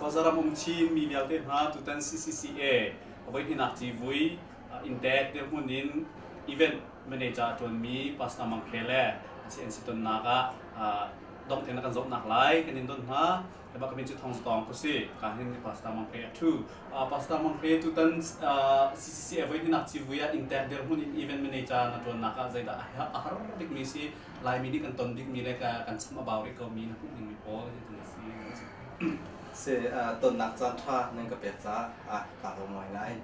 Khuazaram um Chin mi vialte hna tutan CCCA a voihninak civui Intek dirhmun in event manager a ṭuanmi Pastor Mang Hre le a ci an si tonnak ah dongh tein a kan zohnak lai kan in don hna. Eba kami cu thong zatong ku si ka hin Pastor Mang Hre a ṭhu. Pastor Mang Hre tutan CCCA voihninak civui ah Intek dirhmun in event manager na ṭuannak ah zeidah a har bikmi si Laimi dik an ton dikmi le kan cham a bau rih komi na hmuh dingmi pawl hitin a si. Si, tonnak caan ṭha nan ka pek caah kaa lawm ngaingai.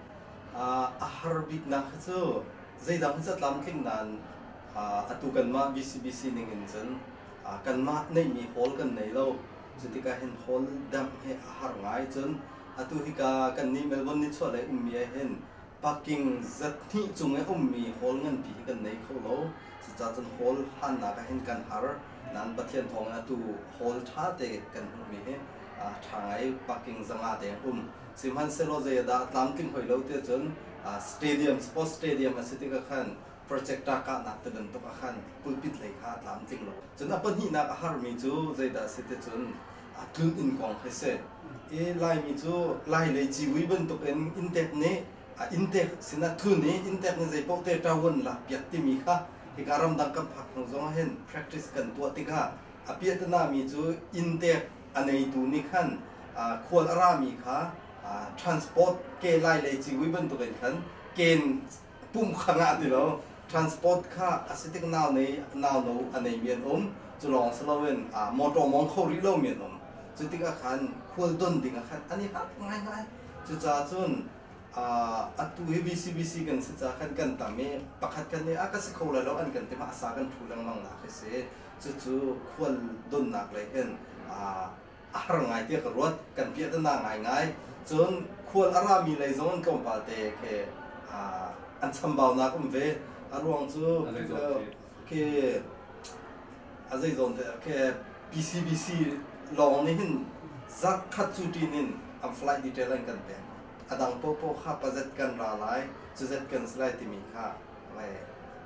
A har biknak hi cu zeidang hi catlamtling nain atu kanmah BCBC ning in cun kanmah neihmi hall kan nei lo. Cutikah hin hall dangh hi a har ngai. Cun atu hika kannih Melbourne nichuahlei ummi ah hin Parking zat hnih cung i a ummi hall nganpi hi kan nei kho lo. Cucaah cun hall hannak ah hin kan har. Nain Pathian thawngin atu hall ṭhate kan hmuhmi hi a ṭha ngai. Parking zangah te an um. Sihmanhsehlaw zei ah dah a tlamtling hoi lo tiah cun stadium, sports stadium a si tikah khan projector kahnak ti bantuk ah khan pulpit lei kha a tlamtling lo. Cun a pahnihnak a harmi cu zeidah a si ti cun aa tlun inn kong kha si. I Laimi cu Lailei civui bantukin inntek nih a inntek sinah thun i inntek nih zeipaoh te ṭahuan lakpiak timi kha hika ramdang kan phakthang zong ahhin practice kan tuah tikah a piahtana-mi cu inntek a neitu nih khan khual a rami kha transport ke Lailei civui bantukin khan ken pumkhar ah ti lo transport kha a si tik nau nei nau no a nei mi an um cu lawng si loin ah motor mong kho rih lo mi an um cu tik ah khan khual don ding ah khan an i harh ngai ngai cucaah cun atu hi VCBC kan si ca khan kan tam i pakhat kan i a ka si kho lai lo an kan ti ma asa kan thu lengmang nak hi si cucu khual donnak lei hin a har ngai tiah ka ruat. Kan piah te naa ngaingai. Cun khual a rami lei zong an tlawmpalte khi an chambaunak um ve. A ruang cu khi a zeizawn te khi PCBC lawng nih hin zarh khat cu ṭin in an flight detail an kan pek. A dang popoh kha pa zet kan ra lai, cu zet kan si lai timi kha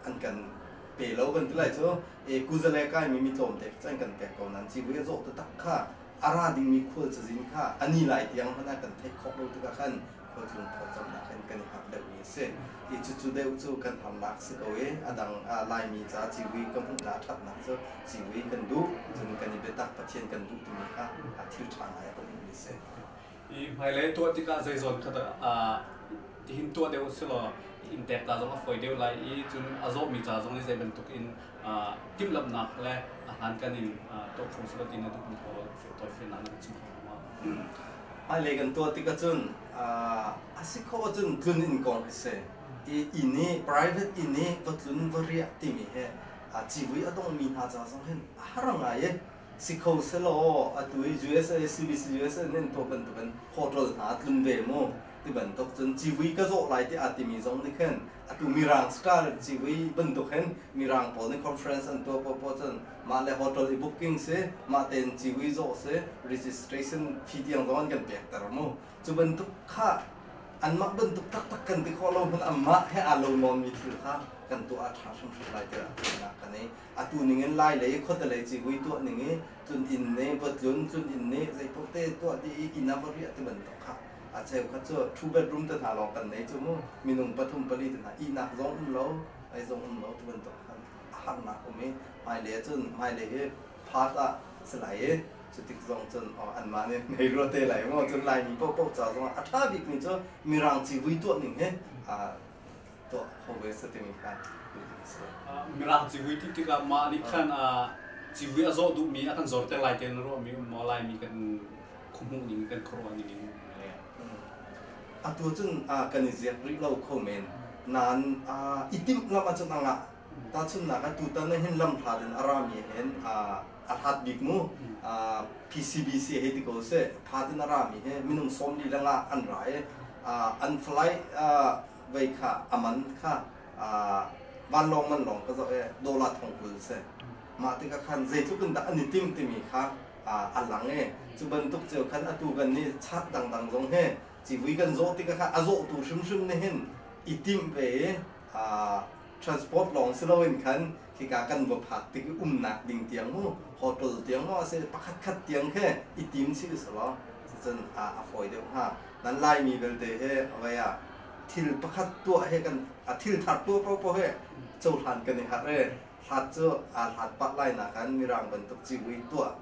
an kan pe lo kan ti lai cu. e kuzale kaimi mi tlawmte cu an kan pek ko nain civui a zawh taktak kha a ra dingmi khual cazin kha a ni lai tiang hmanh ah kan theih khawh lo tikah khan khualtlung thawlcamnak in kan i hngak deuhmi a si i cucu deuh cu kan harnak si ko i a dang laimi ca civui kan hmuhnak a ṭhatnak cu civui kan duh cun kan i biatak pathian kan duh timi kha a thil ṭha ngai a kan hmuhmi a si i hmailei tuah tikah zeizawn kha dah tihin tuah deuh si law inn pekka zong a fawi deuh lai i cun a zawmi ca zong nih zei bantuk in timhlamhnak le a hlankan in tuah kho si lo ti na duh mi pawl tawifiannak na kan chim kho hnga hmailei kan tuah tik ahcun a si khawh ahcun tlun inn kong hi si i inn i private inn i va tlun va riah timi hi civui a dongmi hna ca zong hin a har ngai i si kho selaw atu i USA CBC USA nih to bantukin hotel hna tlung ve mu ti bantuk cun civui ka zawh lai ti aa timi zong nih khin atu mirang star civui bantuk hin mirang pawl nih conference an tuah paw paw cun mah le hotel i booking si mah tein civui zawh si registration fee tiang zong an kan pekter mu cu bantuk kha anmah bantuk taktak kan ti khawh lo hman anmah he aa lo nawnmi thil kha kan tuah a ṭha hrimhrim lai tiah kan i atu ningin lailei khuadalei civui tuah ning i tluninn nih va tlun, tluninn nih zeipaoh te tuah dih i inn ah va riah tibantuk kha a cheukhat cu two bedroom te hna lawng kan nei cu mu minung pathum pali te hna ihnak zong um lo ei zong um lo tibantuk a harnak um i hmailei ahcun hmailei hi part ah si lai i cutik zong cun anmah nih ngei rua te lai maw cun laimi paohpaoh ca zongah a ṭha bikmi cu mirang civui tuah ning hi tuah home base timi kha nihin a si. Mirang civui thit tikah mah nih khan civui a zawh duhmi a kan zorter lai tiah na ruahmi maw laimi kan khuhmuh ning kan khuaruah ning in atu cun kan i ziak rih lo kho men nain i timhlamh ahcun a ngah tahchunhnak ah tutan na hin lamhlat in a rami hen a hlat bik mu PCBC hei ti ko seh that in a rami he minung sawm li lengah an ra i an flight vei kha a man kha vanlawng man lawng ka zoh i dollar thong kul a si. Mah tikah khan zeitluk in dah an i tim timi kha a lang i cu bantuk cio khan atu kan nih chart dangdang zong hi civui kan zawh tikah khan a zawhtu hrimhrim nih hin i timh ve i transport lawng si loin khan hika kan va phak tik i umnak ding tiang mu, hotel tiang maw a si pakhatkhat tiang he i tim chih seh law cucun a, a fawi deuh hnga. Nan Laimi belte he vai ah thil pakhat tuah he kan a thil thar tuah paohpaoh he cohlan kan i harh i hlat cu aa hlat pah lai nakan mirang bantuk civui tuah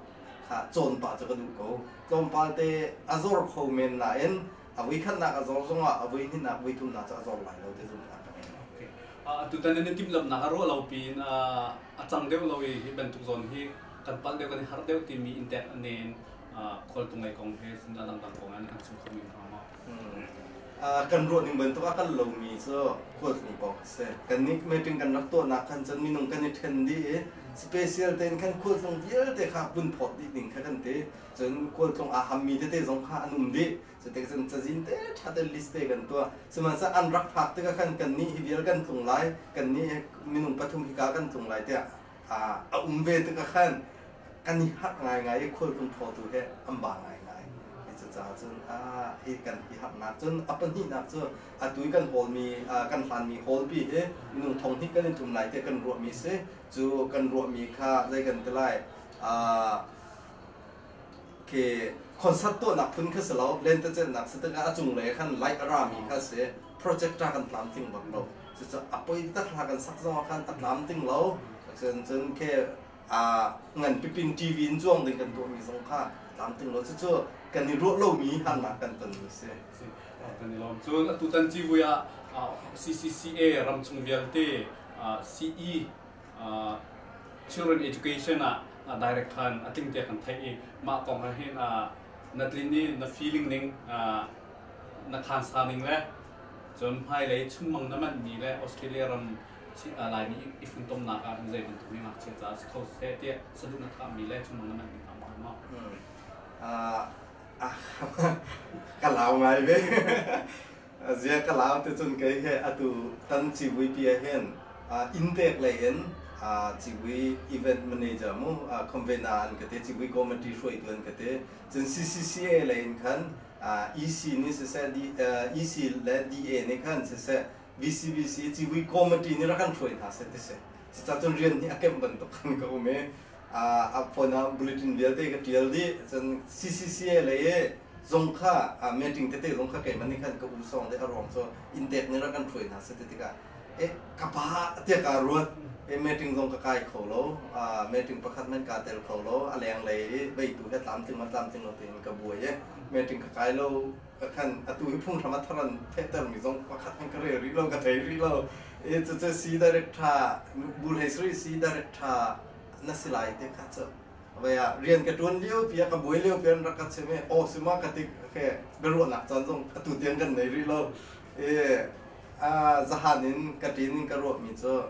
kha cawn pah cu ka duh ko tlawmpal te a zor kho men nain A vui khatnak a zawr zongah a voi hnihnak, voi thumnak cu a zawr lai lo ti zumh a ka ngei lo. Okay. Uh, tutan in timhlamhnak a ruah lo piin uh, a cang deuh lo i hi bantuk zawn hi kan palh deuh kan i harh deuh timi intek nen uh, khualtung lei kong he sinah dangdang kong an kan chim kho men hnga maw? Uh, kan ruah ning bantuk a kan lomi cu khualtni pawng a si. Kan nih meeting kan rak tuahnak khan cun minung kan i ṭhen dih i special tein khan khualtlung vialte kha vun phawt dih ning kha kan ti. cun khualtlung aa hammi tete zong kha an um dih. Cutik cun cazin te ṭha te list te kan tuah. Sihmanhsah an rak phak tikah khan kannih hi vial kan tlung lai, kannih hi minung pathum hika kan tlung lai tiah a um ve tikah khan kan i harh ngaingai i khualtlung thawtu he an ba ngaingai. Cucaah cun hi kan i harhnak cun a pahnihnak cu atu i kan hawlmi kan hlanmi hawlpi hi minung thong hnih kan i tum lai tiah kan ruahmi a si. Cu kan ruahmi kha zei kan ti lai? khi concert tuahnak phun kha si lo lentecelhnak si tikah a cunglei khan light a rami kha si projector kan tlam ting bak lo cucu a poi tatla kan sak zong khan tatlam ting lo cun cun khi ngan pipin tv in zuang ding kan tuahmi zong kha tlam ting lo cucu kan i ruah lomi harnak kan ton a si kan i lawm cun atutan civui ah CCCA ramchung vialte CE children education ah director in a ting te kan theih i mah kong he hin na tlin i na feeling ning na khansa ning le cun hmailei chungmang na manhmi le Australia ram Laimi i funtomnak ah hin zei bantuk mi ngakchia caah si kho seh tiah saduh na khahmi le chungmang na manhmi hna maw maw ka lau ngai ve Zia ka lau ticun kei hi atu kan civuipi ahhin Indek lei in civui event manager mu convener an ka ti civui committee hruaitu an ka ti cun CCCA lei in khan EC nih siseh EC le DA nih khan siseh VCBC civui committee nih rak kan hruai hna seh ti si cacun rian hi a kemh bantuk khan ka um i a phone ah bulletin vialte ka tial dih cun CCCA lei zong kha meeting tete zong kha keiman nih khan ka u sawng de a ruang cu inn dek nih ra kan hruai hna se ti tikah e ka pa tiah ka ruat e meeting zong ka kai kho lo meeting pakhat man ka tel kho lo a leng lei i beitu he tlamtling ma tlamtling lo tein ka buai e meeting ka kai lo Kan atu hi phunghram a thar an thehtermi zong pakhat an ka rel rih lo, ka thei rih lo. E cucu si director Bul Hei Sri si director na si lai te kha cu. Vai ah rian ka tuan lio pi a ka buai lio pi an rak ka chim e aw sima ka tik ke ka ruahnak caan zong atu tiang kan nei rih lo. E zahan in ka ṭin in ka ruahmi cu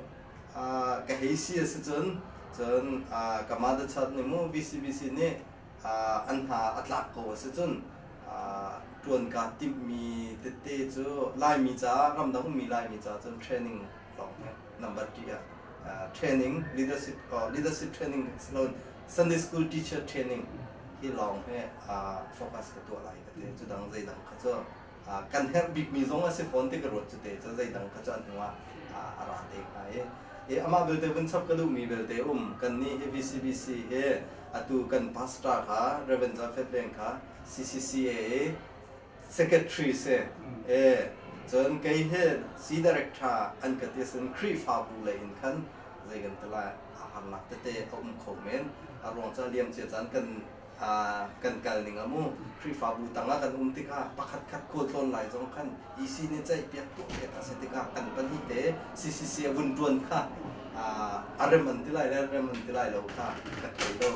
ka hei si a si cun cun ka mother child nih mu VCBC nih an hna a tlak ko a si cun ṭuan kaa timhmi tete cu Laimi caah ramdang ummi Laimi caah cun training lawng hi number ṭi ah training leadership leadership training si loin Sunday school teacher training hi lawng hi focus ka tuah lai ka ti cu dang zeidang kha cu kan herh bikmi zong a si fawn ti ka ruat cu te cu zeidang kha cu an hnu ah a ra te hnga i i amah belte vun chap ka duhmi belte um kannih hi VCBC hi atu kan pastor kha Reverend Zafet Veng kha CCCA i secretary si e cun kei he si direct tha an ka ti sin Khrihfabu lei in khan zei kan ti lai a har lak tete a um kho men a ruang ca liam cia caan kan kan kal ning a mu. Khrihfabu tang ah kan um tikah pakhatkhat khualtlawn lai zong khan EC nih ceihpiak tuah pek a si tikah kan pahnih le CCC a vun ṭuan kha a rem an ti lai le rem an ti lai lo kha ka thei lo.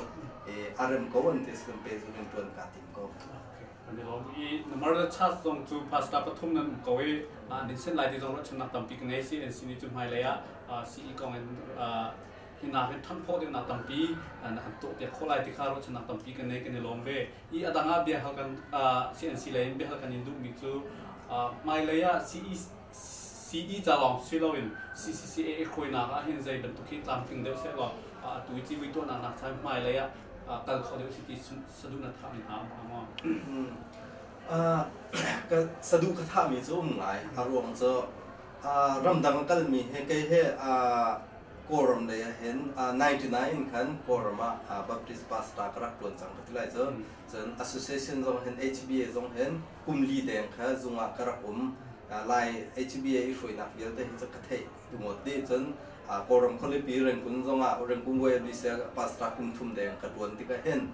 A rem ko an ti si kan pe zu kan ṭuan kaa tim ko. An i lawm i na Murder Charge zong cu pastor pathum nan um ko i an in sen lai ti zong ruahchannak tampi ka ngei CNC nih cu hmailei ah CE kong in hi hna hi thanh khawh dingnak tampi na kan tuahpiak khawh lai ti kha ruahchannak tampi kan nei kan i lawm ve i adang ah biahal kan CNC lei in biahal kan in duhmi cu hmailei ah CE ca lawng si loin CCCA khawinak ah hin zei bantuk hi tlamtling deuh seh law atu i civui tuahnak nak chan hmailei ah kal kho deuh si ti saduhna thahmi hna saduh ka thahmi cu um lai a ruang cu ramdang kalmi he kei he Kawlram lei ah hin uh, 99 in khan Kawlram ah uh, Baptist pastor ka rak tuan cang ka ti lai cun cun association zong hin HBA zong hin kumli deng kha zung ah ka rak um uh, lai HBA i hruainak vialte hi cu ka theih tungot de cun uh, Kawlram khualipi Rengkun zong ah Rengkun Way Advisor pastor kum thum deng ka tuan tikah hin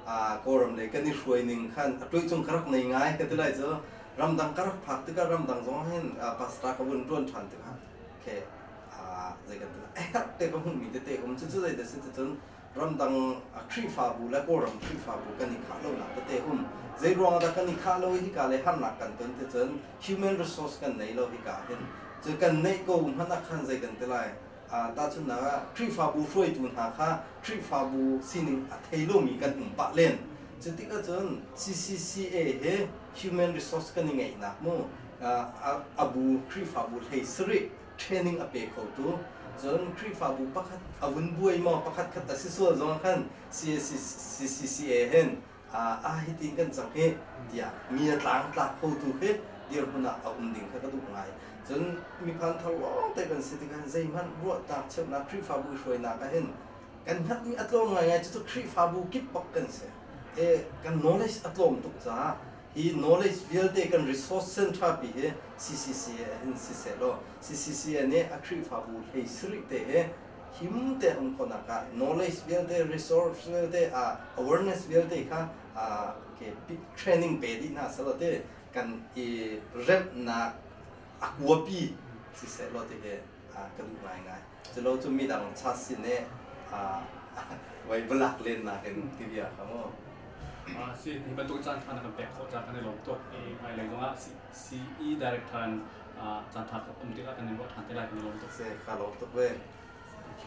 uh, Kawlram lei kan i hruai ning khan a tuai chung ka rak nei ngai ka ti lai cu ramdang ka rak phak tikah ramdang zong hin uh, pastor ka vun tuan than tikah okay zei kan tala ekak te ka hmuhmi tete ka hmu cucu zei da si cun ramdang khrihfabu le kawlram khrihfabu kan i khah lo nak tete um zei ruang dah kan i khah lo hi ka le harnak kan ton ti cun human resource kan nei lo hi ka hin cu kan neih ko hman a khan zei kan tilai tahchun na khrihfabu hruaitu hna kha khrihfabu sining a thei lomi kan um pah len cu tikah cun CCCA he human resource kan i ngeih nak mu abu khrihfabu hlei sari training a pe khotu cun Khrihfabu pakhat a vun buai maw pakhat khat a si sual zong khan CACCA hen ah hitin kan cang hi tiah mi a tlangtlak khotu khi dirhmun ah a um ding kha ka duh ngai. Cun miphang thar lawng te kan si tikah zeihmanh ruahtak cheuhnak Khrihfabu hruainak ah hin kan hngatmi a tlawm ngaingai cucu Khrihfabu kip bak kan si. He kan knowledge a tlawm tuk caah hi knowledge vialte kan resource sen ṭhapi hi CCCA in sisehlaw CCCA nih a Khrihfabu hlei sarih te hi him te um khawhnak ah knowledge vialte resource vialte ah awareness vialte kha ke training pe dih hna selaw ti kan i remhnak a kuapi si sehlaw ti hi ka duh ngai ngai culo cu midang cha sin i voi valak len nak in ti bia kha mu Ah, si hi bantuk caan ṭha na kan pek khawh caan kan i lawm tuk i hmailei zongah CE director in caan ṭha um tikah kan in ruah ṭhan te lai kan i lawm tuk si ka lawm tuk ve